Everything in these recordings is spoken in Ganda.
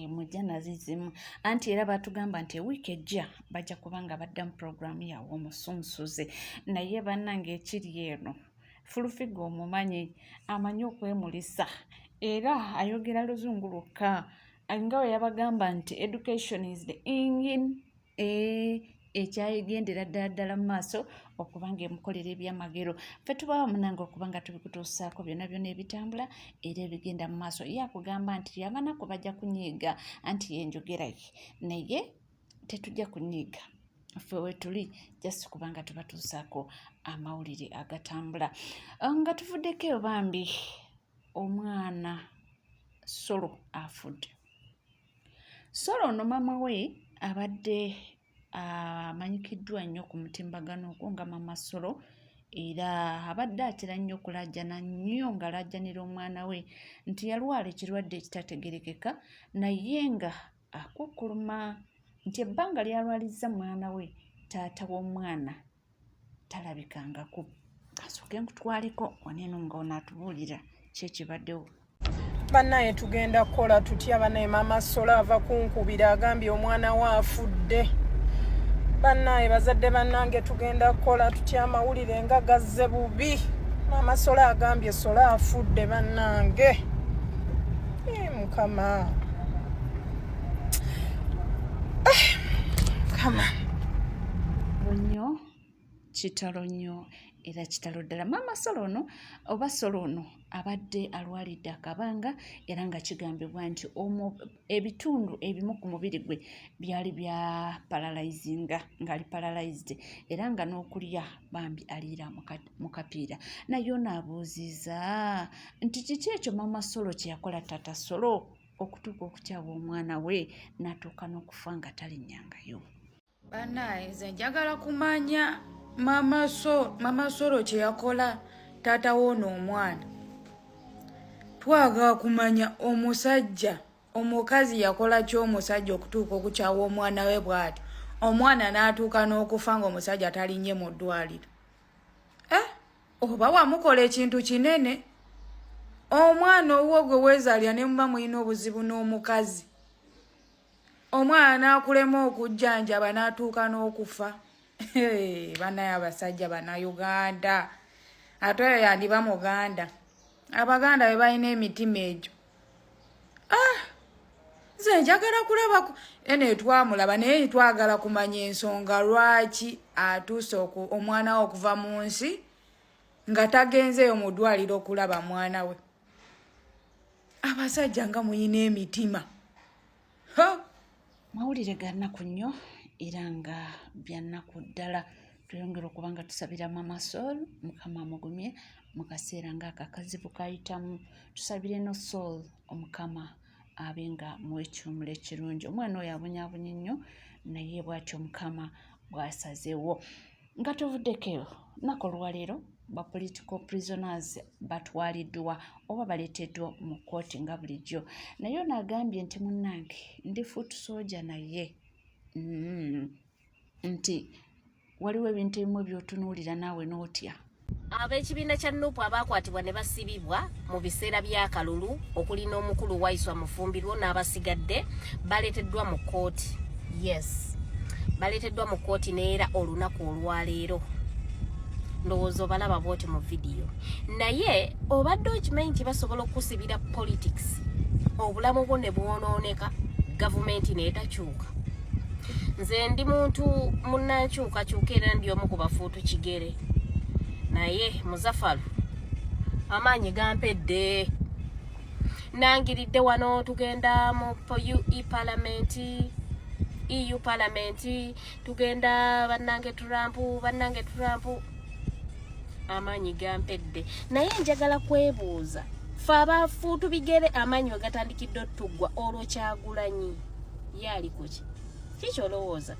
emujja eh, nazizimu anti era batugamba nti ewiiki ejja bajja kuba nga badda mu puroguramu yawe omusunsuze naye bannange ekiri eno fulufiga omumanyi amanyi okwemulisa era ayogera luzungu lwokka nga we yabagamba nti education is the engine eh, ekyagendera ddala ddala mu maaso okuba nga emukolera ebyamagero fe tubawo munange okuba nga tubikutuusaako byonna byona ebitambula era ebigenda mu maaso ye akugamba nti yabanaku bajja kunyiiga anti yenjogera ye naye tetujja kunyiiga ffe wetuli just kubanga tubatuusaako amawulire agatambula ah, nga tuvuddeko eyo bambi omwana solo afudde Solo ono maama we abadde amanyikiddwa nnyo ku mutimbagano ogwo nga Maama Solo era abadde atera nnyo okulaajana nnyo ng'alaajanira omwana we nti yalwala ekirwadde ekitategeerekeka naye nga akukkuluma nti ebbanga ly'alwalizza mwana we taata w'omwana. talabikangako kasooke nkutwaleko waneno nga onatubuulira kyekibaddewo banaye tugenda kukola tutya banaye mama sola ava kunkubira agambye omwana we afudde banaye bazadde banange tugenda kukola tutya amawulire nga gazze bubi mama sola agambye sola afudde banange mukama kama bunyo kitalo nnyo era kitalo ddala maama solo ono oba solo ono abadde alwalidde akabanga era nga kigambibwa nti ebitundu ebimu ku mubiri gwe byali bya paralizinga ngaali paralized era nga n'okulya bambi aliira mu kapiira naye onaabuuziza nti kiki ekyo maama solo kye yakola tata solo okutuuka okukyawa omwana we natuuka n'okufa nga talinyangayo banaye nze njagala kumanya mama solo kyeyakola taata woono omwana twagala kumanya omusajja omukazi yakola ki omusajja okutuuka okukyawa omwana we bwati omwana n'atuuka n'okufa ngaomusajja talinye mu ddwaliro eh? oba wamukola ekintu kinene omwana owuwo gwe weezaalira ne muba mulina obuzibu n'omukazi omwana n'akulema okujjanjaba n'atuuka n'okufa banaye abasajja banauganda ate oyo yandiba muganda abaganda be balina emitima egyo ah! nze njagala kulaba eno etwamulaba naye twagala kumanya ensonga lwaki atuuse omwana we okuva mu nsi nga tagenzeeyo mu ddwaliro okulaba mwana we abasajja nga muyina emitima mawulire ga nnaku nnyo era nga bya nnaku ddala tweyongera okuba nga tusabira mama soul mukama amugumye mu kaseera ng'akakazibu kayitamu tusabire no soul omukama abe nga muwekiwumulo ekirungi omwana oyo abonyaabonye nnyo naye bwatyo mukama bwasazewo nga tuvuddeko eyo nnaku olwaleero ba political prisoners batwaliddwa oba baleeteddwa mu kkooti nga bulijjo naye ono agambye nti munnange ndi foot soja naye mm, nti waliwo ebintu ebimu byotunuulira naawe n'otya Ab'ekibiina kya nupu abaakwatibwa ne basibibwa mu biseera by'akalulu okuli n'omukulu Waiswa Mufumbirwo n'abasigadde baleeteddwa mu kkooti. Yes, baleeteddwa mu kkooti n'era olunaku olwaleero ndowooza obalaba bwoti mu vidiyo naye obadde okimanyi nti basobola okukusibira politics obulamu bwo ne bwonooneka gavumenti neetakyuka nze ndi muntu munankyukakyuka era ndi omu ku bafuuti ku kigere naye muzafalu amaanyi gampedde nangiridde wano tugenda mu ue palamenti eu palamenti tugenda bannange turampu bannange turampu amaanyi gampedde naye njagala kwebuuza fe abafuutu bigere amaanyi we gatandikidde otuggwa olwo kyagulanyi ye ali kuki kikyolowooza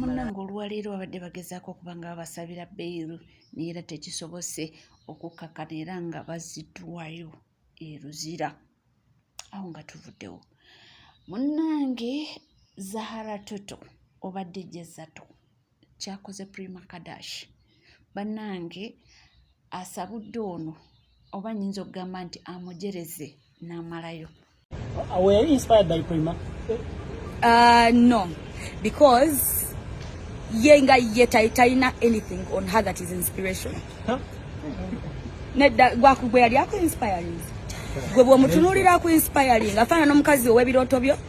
munnange olwaleero babadde bagezaako okuba nga babasabira beiru naye era tekisobose okukkakana era nga baziddwayo eruzira awo nga tuvuddewo munnange zahara toto obadde jezato kyakoze prima kadash bannange asabudde ono oba nyinza okugamba nti amujereze n'amalayo uh, no because ye nga ye talina anything on her that is inspiration huh? nedda gwakugwe yali aku inspiring gwe bwomutunulira aku inspiring afaana n'omukazi ow'ebirooto byo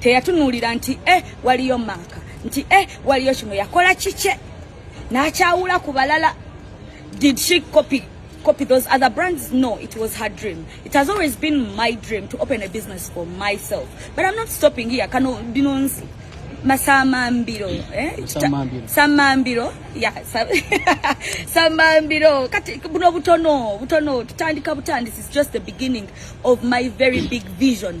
teyatunuulira nti e waliyo maaka nti e waliyo kino yakola kikye n'akyawula ku balala did she copy copy those other brands no it was her dream it has always been my dream to open a business for myself but i'm not stopping here kano binonzi masamambiro eh? samambiro ya samambiro kati buno butono butono tutandika butandisi is just the beginning of my very big vision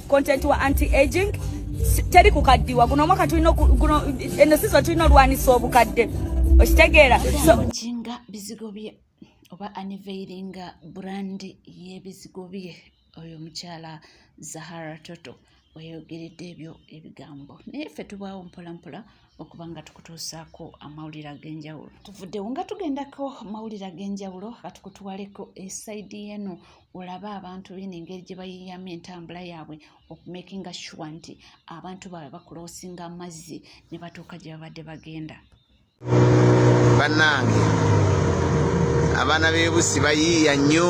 content wa anti aging teri kukaddiwa guno omwaka tulina guno eno sizo tulina olwanisa obukadde okitegeera nga bizigo bye oba aniveiringa brand y'ebizigo bye oyo omukyala zahara toto weyogeredde ebyo ebigambo naye ffe tubaawo mpolampola okuba nga tukutuusaako amawulire ag'enjawulo tuvuddewo nga tugendako mawulire ag'enjawulo katukutuwaleko esaidi eno olaba abantu bino engeri gye bayiyamu entambula yaabwe okumakinga shuwa nti abantu baabwe bakuloosinga amazzi ne batuuka gye babadde bagenda bannange abaana b'ebusi bayiiya nnyo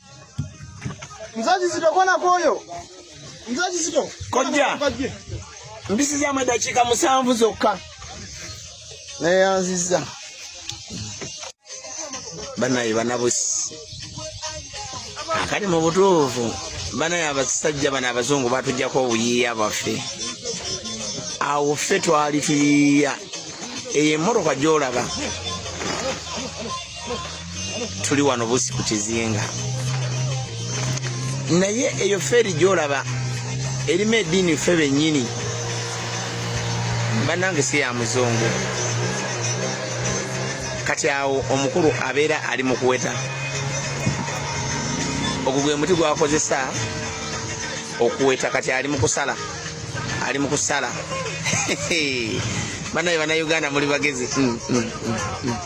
Mzee Kizito kona koyo. Mzee Kizito. Kojja. Mbisi za madakika musanvu zokka. Naye yanziza. Banaye banabusi. Akali mu butuufu. Banaye abasajja bana abazungu batujjako obuyiiya baffe. Awo ffe twali tuyiiya. Eyo emmotoka gy'olaba. tuli wano busi ku kizinga naye eyo feeri gyolaba erimu ediini ffe bennyini bannange si ya muzungu kati awo omukulu abeera ali mu kuweta ogwo gwe muti gwakozesa okuweta kati ali mu kusala ali mu kusala banaye banauganda muli bagezi mm, mm, mm,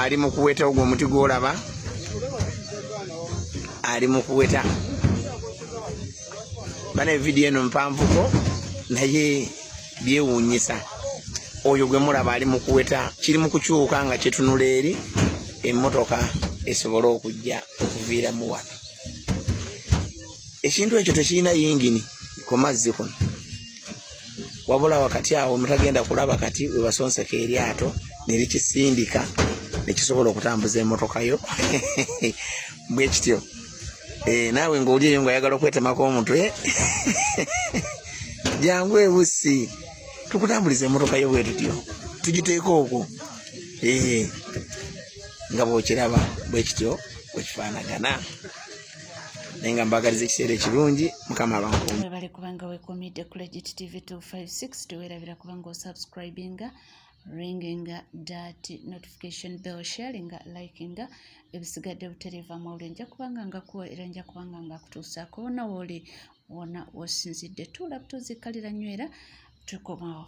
ali mu kuweta ogwo omuti gwolaba ali mu kuweta bana evidiyo eno mpanvuko naye byewuunyisa oyo gwe mulaba ali mu kuweta kiri mu kukyuka nga kyetunula eri emmotoka esobole okujja okuviiramu wano ekintu ekyo tekirina yingini ku mazzi kuno wabula wakati awo mutagenda kulaba kati webasonseka eryato nerikisindika nekisobola okutambuza emotoka yo bwekityo eh, naawe ngaoli eyo nga oyagala okwetemako omutwe jangu ebusi tukutambuliza emotoka yo bwetutyo tugiteeka okwo eh, nga bwokiraba bwekityo bwekifaanagana naye nga mbagaliza ekiseera ekirungi mukama abankuumwebale kubanga wekomidde ku legit tv 256 tewerabira kubanga osubscribinga ringinga dat notification bell sharinga likinga ebisigadde butereeva mawuli nja kubanga ngakuwa era nja kubanga ngakutuusaako wona wooli wona wosinzidde tuula tuzikalira nywera tukomawo